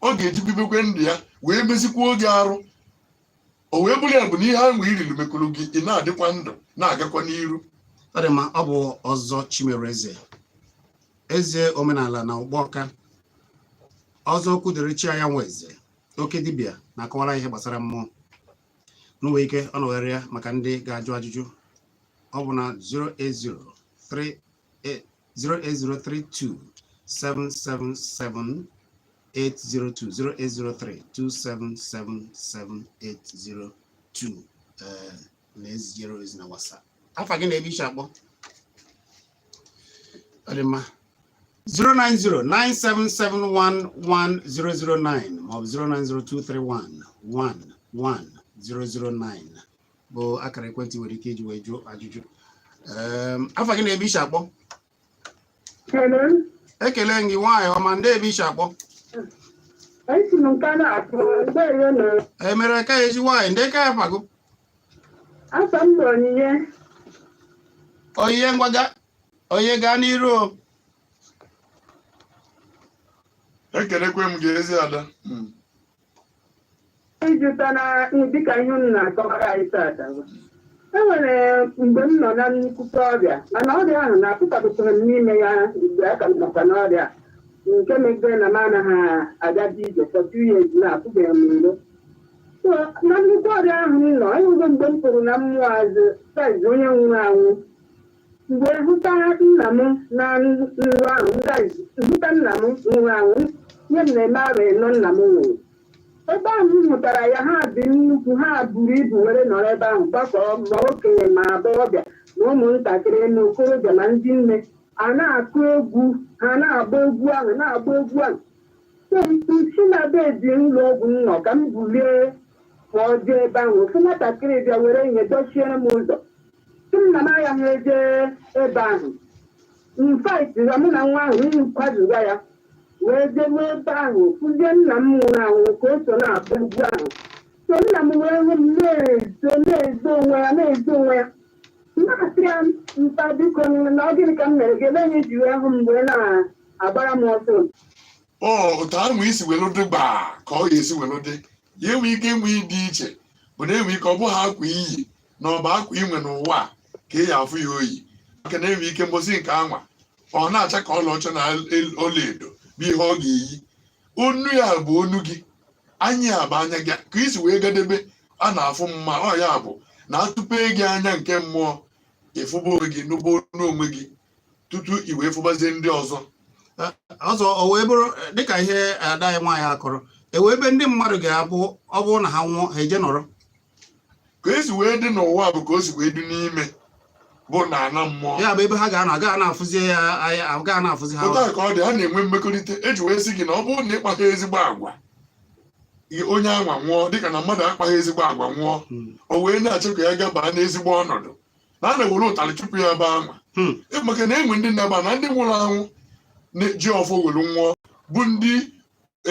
ọ ga-eji bibekwe ndụ ya wee mezikwuo ogwe arụ o wee bụrụ ya bụ na ihe ahụ i riri mekụrụ gị ị na-adịkwa ndụ na-agakwa n'iru ọ dị mma ọ bụ ọzọ Chimereze eze omenala na Ụgbọka ọzọ okwu dịrị chi anyanwụ eze oke dibịa na-akọwara ihe gbasara mmụọ nwee ike ọ nọgharị ya maka ndị ga-ajụ ajụjụ ọ bụ na 08032777802 08032777802 ee na-ezijere ozi na WhatsApp afa gị na ebe i shi akpọ ọdịmma 09097711009 maọbụ 09023111009 bụ akara ekwentị nwere ike iji wee jụọ ajụjụ Em, afa gị na ebe i shi akpọ Hello, ekele m gị nwaanyị ọma ndee ebe i shi akpọ esi m nke na-akpọ mgbere na emere ka eji nwaanyị ndee ka afa gị Afa m bụ Onyinye. Onyinye ngwa gaa Onyinye gaa n'iru o. ekelekwe m gị ezi ada Mm. Ịjụta na dịka ihe unu na-akọwara anyị tata bụ, e nwere mgbe m nọ na nnukwute ọrịa mana ọrịa ahụ na-apụtapụtara m n'ime ya mgbe a ka m nọkwa n'ọrịa nke megidere na m anaghị agaji ije for two years na apụbeghị m iro So, na nnukwu ọrịa ahụ m nọ enwego mgbe m pụrụ na mmụọ azụ saiz onye nwụrụ anwụ mgbe hụta nna m na nrọ ahụ m guys, hụta nna m nwụrụ anwụ nye m na-eme arụ ịnọ nna m nwụrụ ebe ahụ m hụtara ya ha dị nnukwu ha buru ibu were nọrọ ebe ahụ gbakọọ ma okenye ma agbọghọbịa na ụmụntakịrị na okorobịa ma ndị nne a na-akụ egwu ha na-agba egwu ahụ na-agba egwu ahụ m si na bed ụlọ ọgwụ m nọ ka m bulie ma ọ jee ebe ahụ ofu nwatakịrị bịa were ihe dochiere m ụzọ sị m na m agaghị eje ebe ahụ m fight ya mụ na nwa ahụ m kwaduga ya wee jewe ebe ahụ fụzie nna m nwụrụ anwụ ka o so na-abụ egwu ahụ so nna m wee hụ m na-ezo na-ezo onwe ya na-ezo onwe ya na-asị ya mpa biko na ọ gịnị ka m mere gị ebe anyị ji wee hụ m wee na agbara m ọsọ ọ otu ahụ i si welu dịgba ka ọ ga-esi welu dị ya enwe ike ihe dị iche bụ na enwe ike ọ bụghị akwa i yi na ọ bụ akwa i nwe n'ụwa a ka ị ya-afụ ya o yi maka na enwe ike mbọsị nke anwa ọ na-acha ka ọlaọcha na el- ọlaedo bụ ihe ọ ga-eyi onu ya bụ onu gị anya ya bụ anya gị ka isi wee gadebe a na-afụ mma ọ ya bụ na a tụpe gị anya nke mmụọ ị fụba onwe gị nụba onu onwe gị tutu i wee fụbazie ndị ọzọ ọzọ o wee bụrụ dịka ihe ada anyị nwaanyị akọrọ e nwe ebe ndị mmadụ ga-abụ ọ bụrụ na ha nwụọ ha eje nọrọ ka e si wee dị n'ụwa bụ ka o si wee dị n'ime bụ na ana mmụọ ya bụ ebe ha ga-anọ agaghị na-afụzi ya anya agaghị na-afụzi ha pụta ka ọ dị ha na-enwe mmekọrịta e ji wee sị gị na ọ bụrụ na ị kpaghị ezigbo agwa i- onye anwa nwụọ dịka na mmadụ akpaghị ezigbo agwa nwụọ Hmm. o wee na-achọ ka ya gabaa n'ezigbo ọnọdụ na a na-ewere ụtalị chụpụ ya ebe anwa hmm. maka na enwe ndị nnaba na ndị nwụrụ anwụ ji ọfọ were nwụọ bụ ndị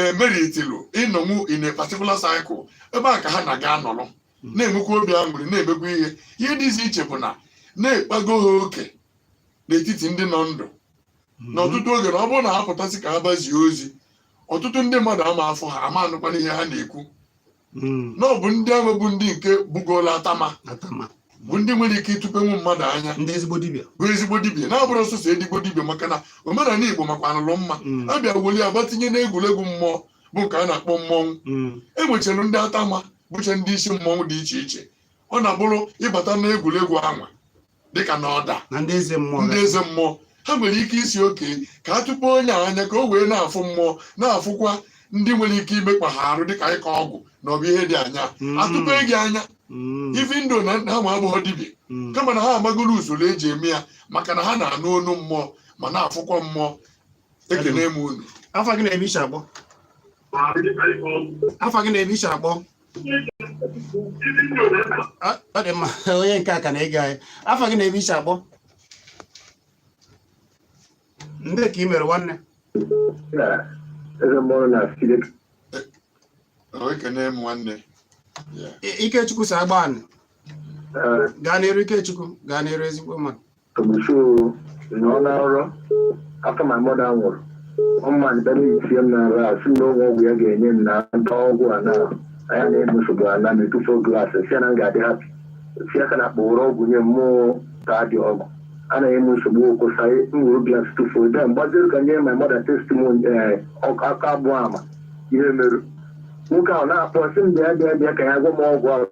e, meritilu ịnọnwu in a particular cycle ebe a ka ha na-aga anọrọ hmm. na-enwekwa obi aṅụrị na-emekwa ihe ihe dịzi iche bụ na na a kpago ha oke n'etiti ndị nọ ndụ hmm. n'ọtụtụ oge na ọ bụrụ na ha pụtasị ka ha gbazie ozi ọtụtụ ndị mmadụ ama afụ ha ama anụkwana ihe ha na-ekwu hmm. na ọ bụ ndị ahụ bụ ndị nke bugoola atama bụ ndị nwere ike ịtụpenwu mmadụ anya bụ ezigbo dibia na-abụrọ sọsọ ezigbo dibia maka na omenala igbo makwanụlụ mma hmm. a bịa weli agba tinye n'egwuregwu mmụọ bụ nke a na-akpọ mmọnwụ hmm. e nwechara ndị atama bụcha ndị isi mmọnwụ dị iche iche ọ na-abụrụ ị bata n'egwuregwu anwa dịka na ọda na ndị eze mmụọ ndị eze mmụọ ha nwere ike ịsị okay ka a tụpe onye anya ka o wee na-afụ mmụọ na-afụkwa ndị nwere ike imekpa ha arụ dịka ịkọ ọgwụ na ọ bụ ihe dị anya Mm. a tụpe gị anya Mm, even though na ha nwa abụghọ dibịa mm, kama na ha amagoro usoro e ji eme ya maka na ha na-anụ onu mmụọ ma na-afụkwa mmụọ ekene m unu afa gị na ebe i si akpọ afa gị na ebe i si akpọ ọ dị mma onye nke a ka na-ege anyị afa gị na ebe i si akpọ ndee ka ị mere nwanne ekene m nwanne ikechukwu si agbanị gaa n'iru ikechukwu gaa n'iru ezigbo mmadụ Tomuso na ọ na-arọ after my mother nwụrụ ọma na bịara isie m n'ara a sị m na o nwe ọgwụ ya ga-enye m na m taa ọgwụ a na anya na-eme nsogbu a na m etufuo glaasị si ya na m ga-adị hapi si ya ka na kpọrọ ọgwụ nye m mụ ataa the ọgwụ anaghị eme nsogbu okwụsa m were glaasị tụfuo ebe m gbaziri ka nye my mother testimony aka abụọ ama ihe merụ nwoke ahụ na-akpọ sị m bịa bịa bịa ka ya gwa m ọgwụ ahụ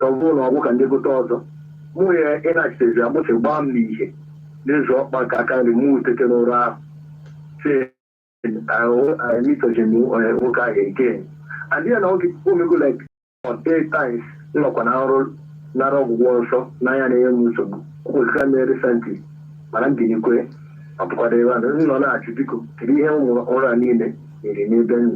ọ bụrụ na ọgwụ ka m gote ọzọ mụ ya ịnachitezi agbụsị gbaa m n'ihe n'azụ ọkpa nke aka nri mụ etete n'ụra ahụ si mitojem nwoke ahụ again and ya na oge o mego like eight times m nọkwa na nrọ nara ọgwụgwọ nsọ n'anya na-enye m nsogbu kwụsịra m recently mana m binikwe ọ bụkwado ebe a nọ na-achụ biko kedu ihe ụmụ nrọ a niile nyere n'ebe m nọ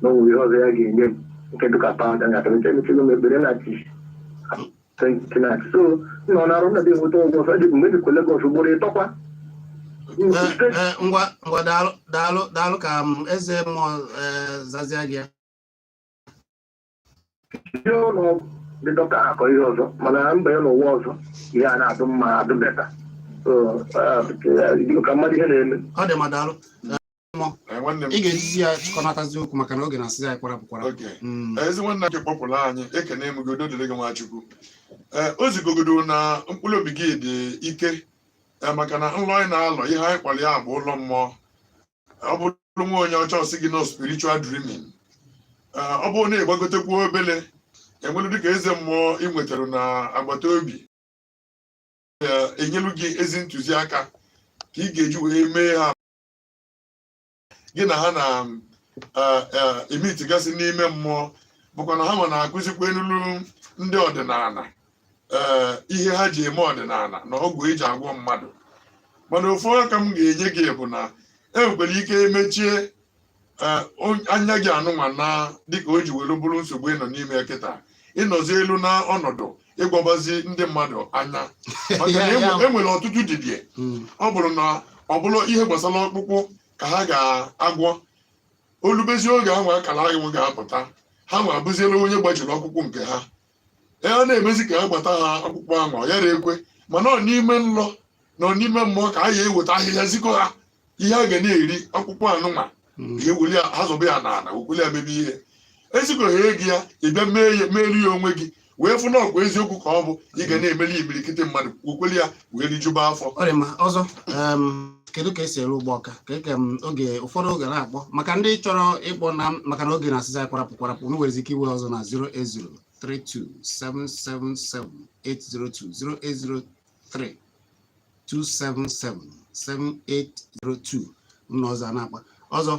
na o nwere ihe ọzọ ya ga-enye m nke dịka pawụda nga kemete emechago m ekpere na chi so nọ na arụ nọdụ enweta ụgwọ ọsọ eji mgbe dịkwa Lagos ugboro ịtọkwa ngwa ngwa daalụ daalụ ka eze mmụọ zazie gị ya jee ụlọ ọgwụ ndị dọkịta ha akọ ihe ọzọ mana m baye n'ụwa ọzọ ihe a na-adị mma adị better So, ah, eh, ka m mara ihe na-eme ọ dị ma daalụ Eh, nwanne m ị ga-ejizi ya chịkọnatazi okwu maka na oge na-asịzi anyị kwarapụ kwarapụ okay Mm. ezi nwanne nke kpọtụrụ anyị ekene m gị udo dịrị gị nwa Chukwu ee o zigogodo na mkpụrụ obi gị dị ike ee maka na nlọ anyị na-alọ ihe anyị kpọrọ ya bụ nlọ mmụọ ọ bụrụ nwa onye ọcha ọ sị gị na ọ spiritual dreaming eh, ọ bụrụ na ị gbagotekwuo obele e nwere dịka eze mmụọ ị nwetara na agbata obi eh, enyelu gị ezi ntụziaka ka ị ga-eji wee mee ha gị na ha na-emeetigasị eh, n'ime mmụọ bụkwa na ha nwa na-akụzikwanulu ndị ọdịnala ee ihe ha ji eme ọdịnala na ọgwụ eji agwọ mmadụ mana ofu aka m ga-enye gị bụ na e nwekwara ike emechie ee, on- anya gị anụnwa na dịka o ji were bụrụ nsogbu ị nọ n'ime ya kịta ị nọzielu na ọnọdụ ịgwọbazi ndị mmadụ anya maka na Ya- ya- enwe- enwere ọtụtụ dibịa Mm. ọ bụrụ na ọ bụrụ ihe gbasara ọkpụkpụ ka ha ga-agwọ o lubezi oge ahụ akara ahụ ga-apụta ha nwa abụzielu onye gbajiri ọkpụkpụ nke ha a ya na-emezi ka ha gbata ha ọkpụkpụ anwa ọ yara ekwe mana ọ n'ime nlọ na ọ n'ime mmụọ ka a ya eweta ahịhịa zikọ ha ihe a ga na-eri ọkpụkpụ anụnwa Mm. ị weli ha zọba ya n'ala wekweli ya mebe ihe e zikọ ha ego ya ị bịa meere ya onwe gị wee fụ na ọkwa eziokwu ka ọ bụ ị ga na-emeli imirikiti mmadụ wekweli ya wee rijuba afọ ọ dị mma ọzọ em, kedu ka esi eru Ugbawka ka eke m oge ụfọdụ oge na-akpọ maka ndị chọrọ ịkpọ na maka na oge na-asịzi anyị kwarapụ kwarapụ unu nwere ike iwe ọzọ na 08032777802 08032777802 ụlọ ọzọ a na-akpa ọzọ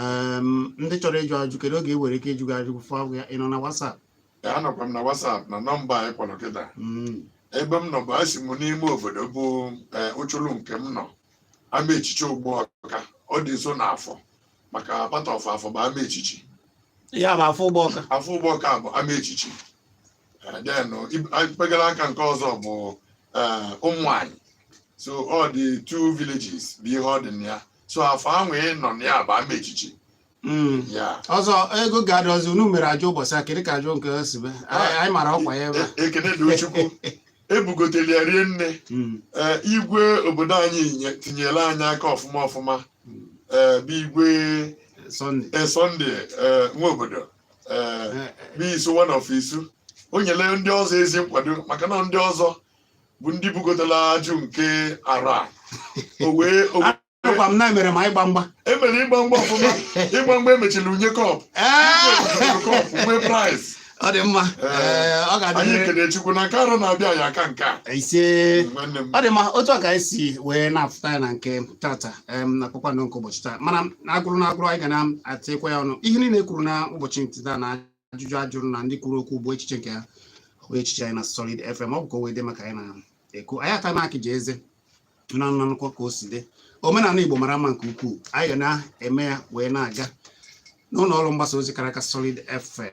em, ndị chọrọ ịjụ ajụ kedu oge e nwere ike ịjụ gị ajụ fọ ya ị nọ na WhatsApp ya anọkwa m na WhatsApp na nọmba anyị kpọrọ kịta Mm. ebe m nọ bụ asị m n'ime obodo bụ ee, ụchụrụ nke m nọ ama echichi Ugbawka ọ dị nso na afọ maka part of afọ bụ ama echichi ya bụ afọ Ugbawka afọ Ugbawka bụ ama echichi Eh, then ib- a- mpegara aka nke ọzọ bụ eh, ụmụanyị so ọ dị two villages bụ ihe ọ dị na ya so afọ ahụ ị nọ na ya bụ ama echichi Mm. ya ọzọ ego ga-adị ọzọ unu mere ajụ ụbọchị a kedu ka ajụ nke o si be anyị anyị mara ọkwa ya ebe a. E- ekene dị Chukwu ebugotere ya rie nne Mm. ee igwe obodo anyị nye- tinyere anyị aka ọfụma ọfụma ee bụ igwe Sunday. ee, Sunday ee, Nwobodo ee Eh, bụ Isu One of Isu o nyere ndị ọzọ ezi nkwado maka na ndị ọzọ bụ ndị bugotela ajụ nke arụ a. o wee o wee- Agwa m na emere ma ịgba mgba. Emere ịgba mgba ọfụma. Ịgba mgba emechiri bunye cup. Nwee prize. Ọ dị mma. Ọ ga-adị. Anyị ekele Chukwu na nke arụ na-abịa ya aka nke a. Ise. Ọ dị mma otu a ka anyị si wee na-afụta ya na nke tata na kpakpando nke ụbọchị taa mana na agụrụ na agụrụ anyị ga na-atịkwa ya ọnụ ihe niile e kwuru na ụbọchị nke taa na ajụjụ a jụrụ na ndị kwuru okwu bụ echiche nke ha abụghị echiche anyị na Solid FM ọ bụ ka o wee dị maka anyị na-ekwu anyị aka na-akị ji eze na nnanụkọ ka o si dị omenala Igbo mara mma nke ukwuu anyị ga na-eme ya wee na-aga n'ụlọ ọrụ mgbasa ozi kara aka Solid FM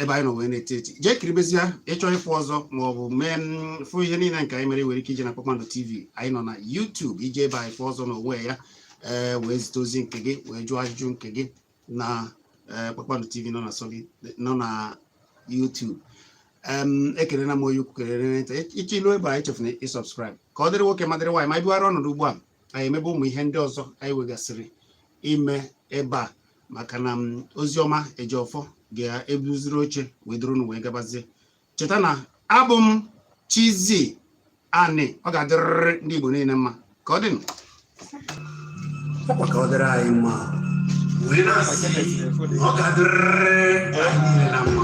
ebe anyị nọ wee na-eti eti jee kiribezie ị chọọ ịfụ ọzọ ma ọ bụ mee mm, fụ ihe niile nke anyị mere nwere ike ije na Kpakpando TV anyị nọ na YouTube i jee ebe ahụ fụ ọzọ na onwe ya ee eh, wee zite ozi nke gị wee jụọ ajụjụ nke gị na eh, Kpakpando TV nọ na Solid nọ na YouTube ekelela m onye ukwu kelee onye nta ị chọọ ilu ebe a echefuna ịsubscribe ka ọ dịrị nwoke ma dịrị nwaanyị ma bugharịa ọnọdụ ugbu a anyị emebe ụmụ ihe ndị ọzọ anyị wegasịrị ime ebe a maka na Ozioma Ejiofor ga-ebuziri oche wee duru unu wee gabazie cheta na abụ m Chizzy Ani ọ ga-adịrịrị ndị Igbo niile mma ka ọ dịnụ ka ọ dịrị anyị mma wee na-asị ọ ga-adịrịrị anyị niile na mma